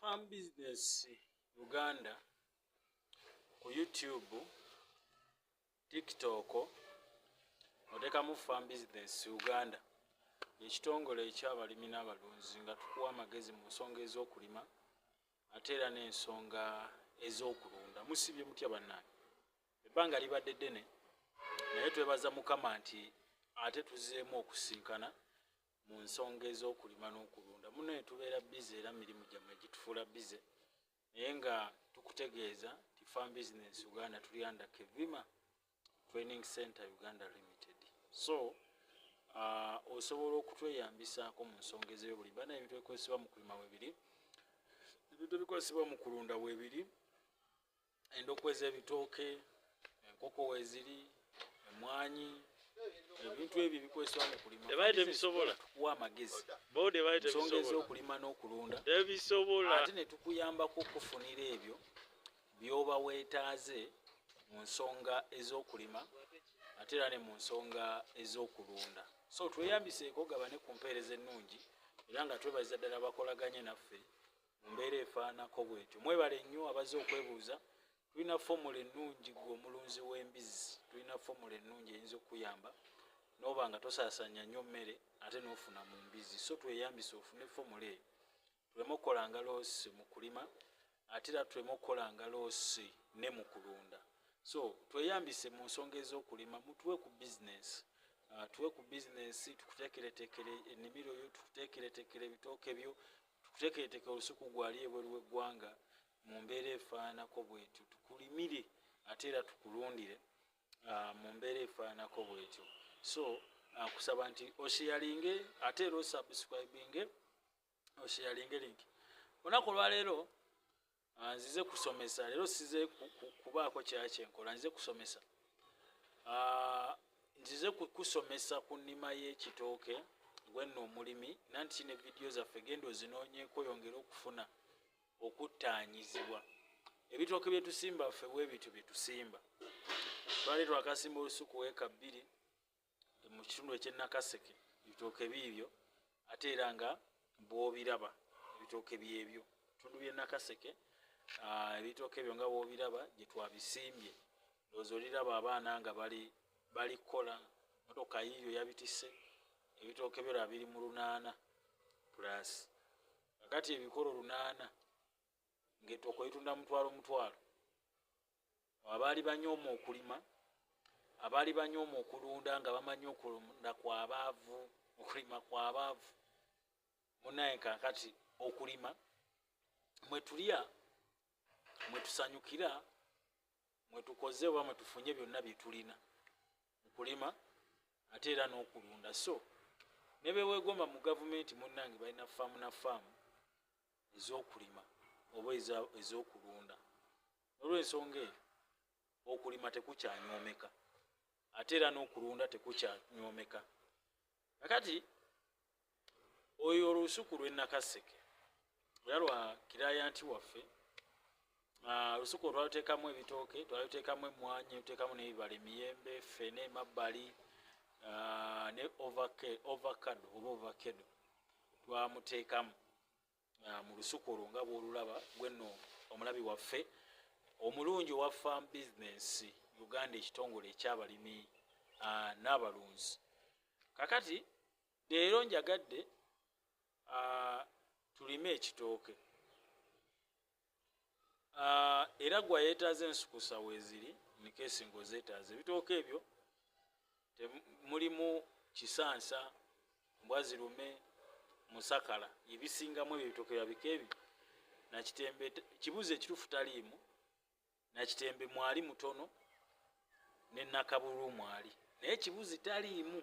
farm business uganda ku youtube tiktok otekamu farm business uganda ekitongole ekyabalimi n'abalunzi nga tukuwa amagezi mu nsonga ez'okulima ate era n'ensonga ez'okulunda musibye mutya bannange ebbanga libadde ddene naye twebaza mukama nti ate tuzeemu okusinkana mu nsonga ez'okulima n'okulunda munaye tubeera bize era mirimu gyammwe gitufuula bize naye nga tukutegeeza ti farm business uganda tuli under kevima training center uganda limited so uh, osobola okutweyambisaako mu nsonga ez'ebyobulimi bana ebintu ebikozesebwa mu kulima webiri ebintu ebikozesebwa mu kulunda webiri endokwa ez'ebitooke enkoko weziri emwanyi ebintu ebyo bikozesebwa mu kulima tebaali tebisobola tukuwa amagezi bo tebaali tebisobola ensonga ez'okulima n'okulunda tebisobola ate ne tukuyambako okufunira ebyo by'oba weetaaze mu nsonga ez'okulima ate era ne mu nsonga ez'okulunda so tweyambiseeko gabane ku mpeereza ennungi era nga twebaza ddala bakolaganye naffe mu mbeera efaanako bwetyo mwebale nnyo abaze okwebuuza tulina fomula ennungi gwe omulunzi w'embizzi tulina fomula ennungi eyinza okukuyamba noba nga tosasanya nnyo mmere ate nofuna mu mbizzi so tweyambisa ofune fomula eyo tuleme okukolanga loosi mu kulima ate era tuleme okukolanga loosi ne mu kulunda so tweyambise mu nsonga ez'okulima mutuwe ku bizinesi uh, tuwe ku bizinesi tukuteekereteekere ennimiro yo tukuteekereteekere ebitooke byo tukutekeeteke olusuku gwali ebweru w'eggwanga mu mbeera efaananako bwetyo tukulimire ate era tukulundire ah, mu mbeera efaananako bwetyo so ah, kusaba nti osheyalinge ate era osubscribinge osheyalinge linki olunaku olwaleero Ah, nzize kusomesa leero size kubaako kyakyenkola nzize kusomesa ah, nzize kusomesa ku nnima y'ekitooke gwenna omulimi nanti kine vidiyo zaffe genda ozinoonyeeko yongere okufuna okuttaanyizibwa ebitooke bye tusimba ffe bwe bityo bye tusimba twali twakasimba olusuku weeka bbiri mu kitundu ekyenakaseke ebitooke biibyo ate era nga bwobiraba ebitooke byebyo bitundu byenakaseke ah, ebitooke ebyo nga bwobiraba gyetwabisimbye loozi oliraba abaana nga bali bali kukola motoka yiiyo yabitise ebitooke byo laba biri mu lunaana pulasi kakati ebikolo lunaana ng'ettooka oyitunda mutwalo mutwalo abaali banyooma okulima abaali banyooma okulunda nga bamanyi okulunda kwabaavu okulima kwabaavu munaye kakati okulima mwetulya mwetusanyukira mwetukoze oba mwetufunye byonna byetulina mukulima ate era n'okulunda so nebeweegomba mu gavumenti munnange balina faamu na faamu ez'okulima oba ez'okulunda nolwensonga eyo okulima tekukyanywomeka ate era n'okulunda tekukyanywomeka akati oyo olusuku lwenakaseke era lwa kirayanti waffe Ah, olusuku olwalutekamu ebitooke twalutekamu emwanyi lutekamu nebibala emiyembe fene emabbali ah, ne ovacado oba ovacado twamuteekamu ah, mu lusuku olwo nga bwolulaba gweno omulabi waffe omulungi owa farm business uganda ekitongole ekyabalimi n'abalunzi kakati leero njagadde tulime ekitooke uh, era gwa yetaaza ensukusa weziri nikesi ngaozetaaza ebitooka ebyo mulimu kisansa mbwazirume musakala ebisingamu ebyo ebitooka byabika ebyo nakitembe kibuuzo ekitufu taliimu nakitembe mwali mutono nenakabulu mwali naye kibuzi taliimu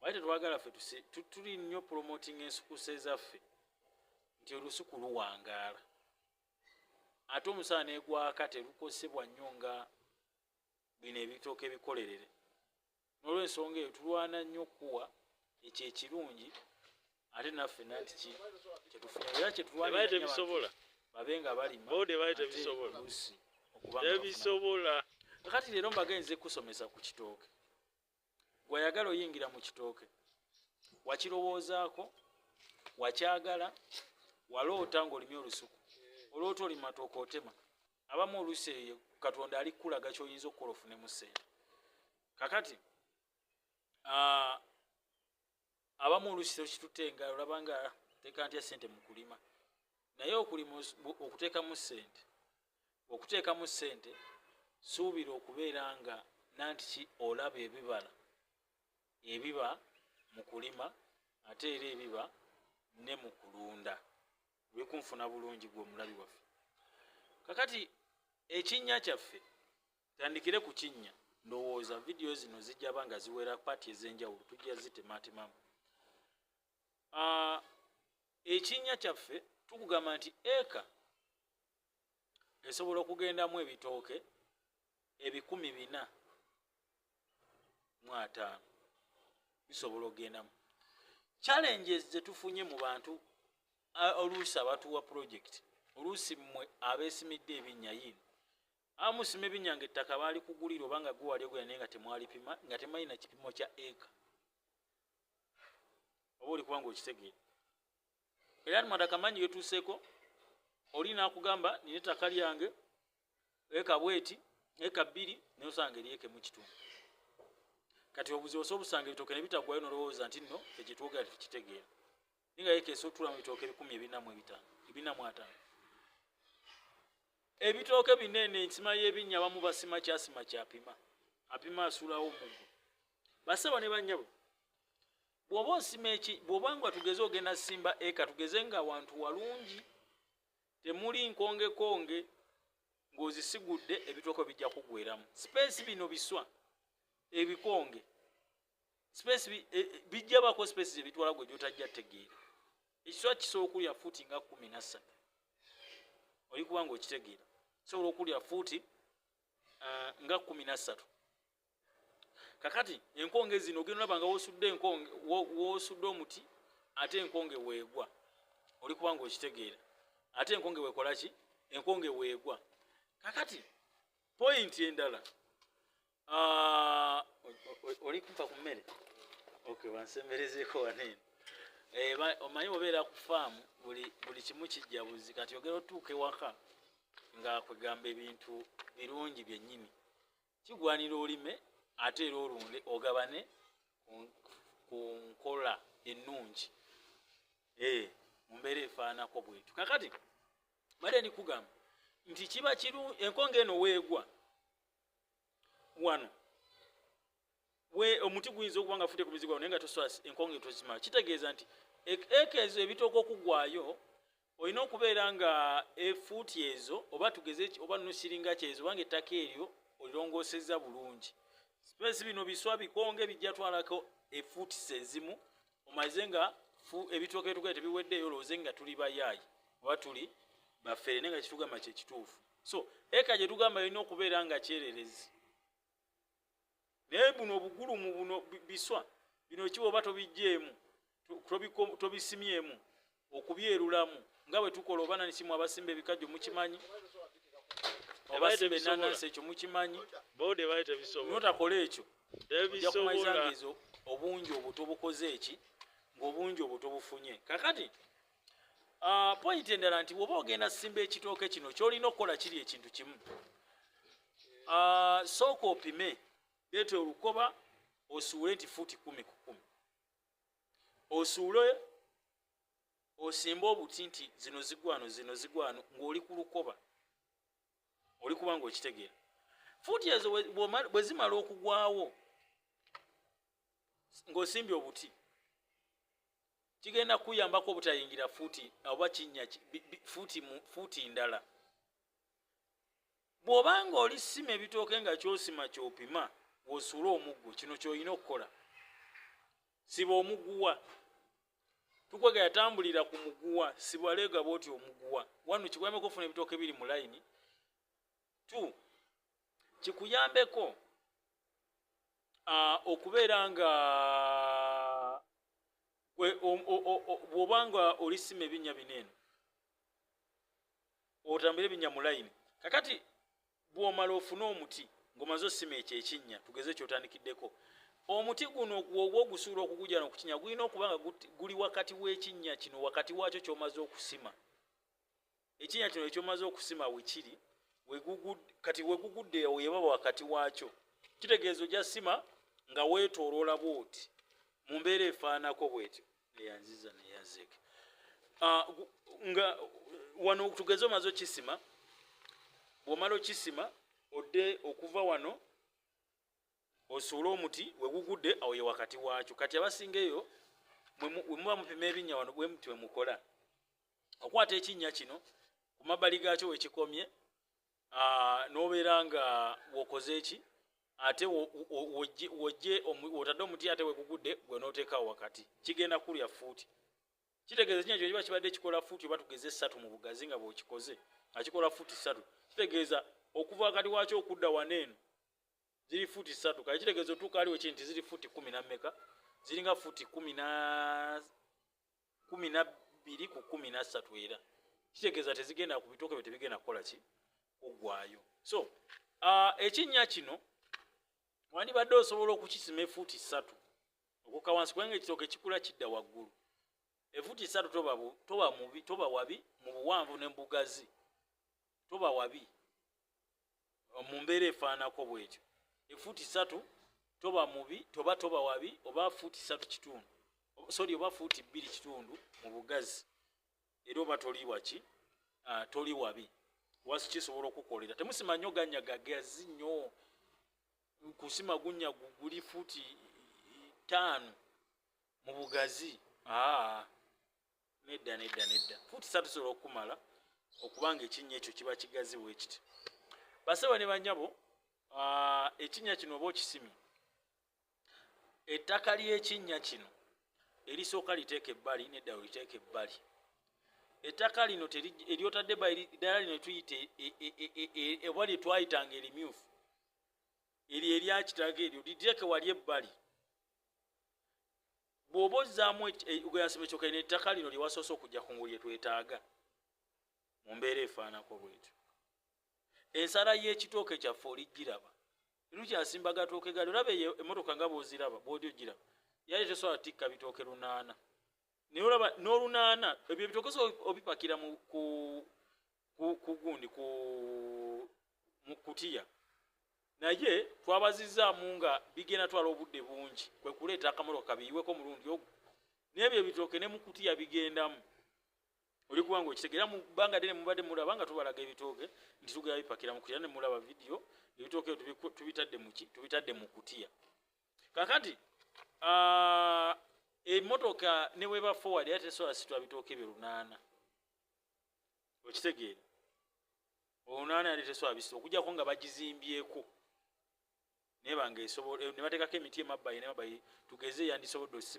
Wali tetwagala ffe tuli nnyo promoting ensukusa ezaffe nti olusuku luwangaala ate omusala negwaka telukosebwa nnyo nga bino ebitooka ebikolerere nolwensonga eyo tulwana nnyo okukuwa ekyo ekirungi ate naffe nanti ki kyetufunya era kyetulwantebisobola babe nga balimatebisobola kati leero mbagenze kusomesa ku kitooke gwayagala oyingira mu kitooke wakirowoozaako wakyagala waloota ngaolimye olusuku oloota oli matooka otema abamu olusi eyo katonda ali kukulaga kyoyinza okukola ofune mu sente kakati abamu olusi tokitutte nga olaba nga teeka ntya sente mu kulima naye okulima okuteekamu sente okuteekamu sente suubira okubeera nga nanti ki olaba ebibala ebiba mu kulima ate era ebiba ne mu kulunda wekunfuna bulungi gwe omulabi waffe kakati ekinnya kyaffe tandikire ku kinnya ndowooza vidiyo zino zijaba nga ziwera paati ez'enjawulo tujja zitematemamu ah, ekinnya kyaffe tukugamba nti eka esobola okugendamu ebitooke ebikumi bina mu ataano bisobola okugendamu challenges zetufunye mu bantu oluusi abatuwa pulojekiti oluusi mmwe abeesimidde ebinnya yini Amusima ebinyanga ettaka baali kugulira oba nga gwe wali ogula naye nga temwalipima nga temanyi na kipimo kya eka oba oli kubanga okitegeera era ni mwada kamanyi getuuseeko oli nakugamba nina ettaka lyange eka bweti eka bbiri naye osanga eri eka emu kitundu kati obuzibu osa obusanga ebitooke ne bitagwayo nolowooza nti nno ekitwogera tetukitegeera ninga yekesa otula mu bitooke ebikumi ebina mu ebitano ebina mu atano ebitooke binene ensima y'ebinnya abamu basima kyasima kyapima apima asulawo mugu basebo ne banyabo bwoba osima eki bwoba nga tugeze ogenda simba eka tugeze nga awantu walungi temuli nkongekonge ng'ozisigudde ebitooke bijja kugweramu sipeesi bino biswa ebikonge space e, e, bijja bako space ze bitwala gwe jotajja tegeera ekiswa kisobola okulya fuuti nga kumi na ssatu oli kuba nga okitegeera kisobola okulya fuuti uh, nga kumi na ssatu kakati enkonge zino ogenda olaba nga wosudde enkonge wosudde omuti ate enkonge weegwa oli kuba nga okitegeera ate enkonge weekola ki enkonge weegwa kakati pointi endala Ah, oli kumpa ku mmere okay wansemberezeeko wanene eh, omanyi obeera ku faamu buli kimu kijja buzi kati ogera otuuka ewaka nga kwegamba ebintu birungi byennyini kigwanira olime ate era olunde ogabane ku nkola ennungi eh, mu mbeera efaanako bwetu kakati bade ndikugamba nti kiba kiru enkonga eno weegwa wano we omuti guyinza okuba nga fute ku mizigo naye nga toswasi enkonge tozima kitegeeza nti eka ezo ebitooka okugwayo olina okubeera nga efuuti ezo oba tugeze oba nusiringa kyezo obanga ettaka eryo olirongoseza bulungi sipesi bino biswa bikonge bijjatwalako efuutisa ezimu omaze nga ebitooka etugae tebiweddeeyo olowooze nga tuli bayaayi oba tuli bafere naye nga kitugamba kyekituufu so eka gye tugamba yalina okubeera nga kyererezi naye buno obugulumu buno biswa bino kiba oba tobijjeemu tobisimyemu okubyerulamu nga bwe tukola oba nanisimu abasimba ebikajjo mukimanyi obasimba enanansi ekyo mukimanyi notakola ekyo oja kumaizangezo obungi obuto bukoze eki ngaobungi obuto bufunye kakati Ah, pointi endala nti woba ogenda simba ekitooke kino kyolina okukola kiri ekintu kimu ah, sooka opime leeta olukoba osuule nti fuuti kumi ku kumi osuule osimba obuti nti zino zigwano zino zigwano ng'oli ku lukoba oli kuba nga okitegeera fuuti ezo bwe zimala okugwawo ng'osimbye obuti kigenda kuyambako obutayingira fuuti oba kinnya fuuti ndala bw'oba nga oli sima ebitooke nga kyosima kyopima wosuula omuggo kino kyolina okukola siba omuguwa tukwega yatambulira ku muguwa sibwaleega bwoti omuguwa wanu kikuyambeko ofuna ebitooke biri mu layini t kikuyambeko okubeera nga bwoba nga olisima ebinya bino eno otambire ebinya mu layini kakati bwomala ofune omuti ngomaze osima ekyo ekinnya tugeze kyotandikiddeko omuti guno gwogwa ogusuula okugujana okukinya gulina okuba nga guli wakati w'ekinnya kino wakati waakyo kyomaze okusima ekinnya kino ekyomaze okusima wekiri kati wegugudde weyebaba wakati waakyo kitegeeza oja sima nga weetooloola bwoti mu mbeera efaanako bwetyo neyanziza neyazeke ah, nga wano tugeze omaze okisima bwomala okisima odde okuva wano osuule omuti wegugudde awo ye wakati waakyo kati abasinga eyo wemuba mupima ebinnya wano bwe muti wemukola okwata ekinnya kino ku mabbali gaakyo wekikomye n'obeera nga wokoze eki ate wojje wotadde omuti ate wegugudde gwe nooteekawo wakati kigenda kulya fuuti kitegeeza ekinnya kino kiba kibadde kikola fuuti oba tugeze essatu mu bugazi nga bwokikoze nga kikola fuuti ssatu kitegeeza okuva wakati waakyo okudda waneeno ziri futi satu kale kitegeeza otuuka aliwo ki nti ziri futi kumi nammeka ziringa futi kumi na kumi na bbiri ku kumi na ssatu era kitegeeza tezigenda ku bitooke byo tebigenda kukola ki kuggwayo so uh, ekinnya kino wandibadde osobola okukisima efuuti ssatu okuka wansi kubanga ekitooke kikula kidda waggulu efuuti ssatu toba, toba, toba wabi mu buwanvu ne mubugazi toba wabi mu mbeera efaanako bwetyo efuuti satu toba mubi toba toba wabi oba fuuti satu kitundu sori oba fuuti bbiri kitundu mu bugazi era oba toli waki ah, toli wabi wasi kisobola okukolera temusima nnyo ganya gagazi nnyo kusima gunya guli fuuti ttaano mu bugazi aa ah. nedda nedda nedda fuuti satu sobola okukumala okubanga ekinnya ekyo kiba kigazi bwekiti basebo ne banyabo ah, ekinnya kino oba okisimi ettaka ly'ekinnya kino erisooka liteeka ebbali nedda oliteeka ebbali ettaka lino eryotadde ddala lino tuyita e, e, e, eba lye twayitanga erimyufu eryo eryakitaga eryo liteeke wali ebbali bwoba ozzaamu eh, gweyasima ekyoka ina ettaka lino lyewasoose okujja ku nguli etwetaaga mu mbeera efaanako bwetyo ensala y'ekitooke kyaffe olijjiraba lukyasimba gatooke gali olaba eyo emotoka nga bwoziraba bwoli ogiraba yali tesobola tikka bitooke lunaana naye olaba n'olunaana ebyo ebitokesa obipakira kugundi ku mu kutiya naye twabazizaamu nga bigenda twala obudde bungi kwe kuleeta akamotoka kabiyiweko mulundi ogwo n'ebyo ebitooke ne mu kutiya bigendamu oli kuba nga okitegeera mu bbanga ddene mubadde mulaba nga tubalaga ebitooke nti tugera bipakira mu kutiya ne mulaba vidiyo ebitooke tubitadde muki tubitadde mu kutiya kakati uh, emotoka neweba forward era tesobola sitwa bitooke bye lunaana okitegeera olunaana yali tesobola bisita okujjako nga bagizimbyeko naye banga esobola eh, ne bateekako emiti emabbali nemabbali tugeze yandisobodde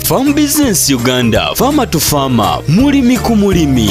Farm Business Uganda, Farmer to Farmer, mulimi ku mulimi.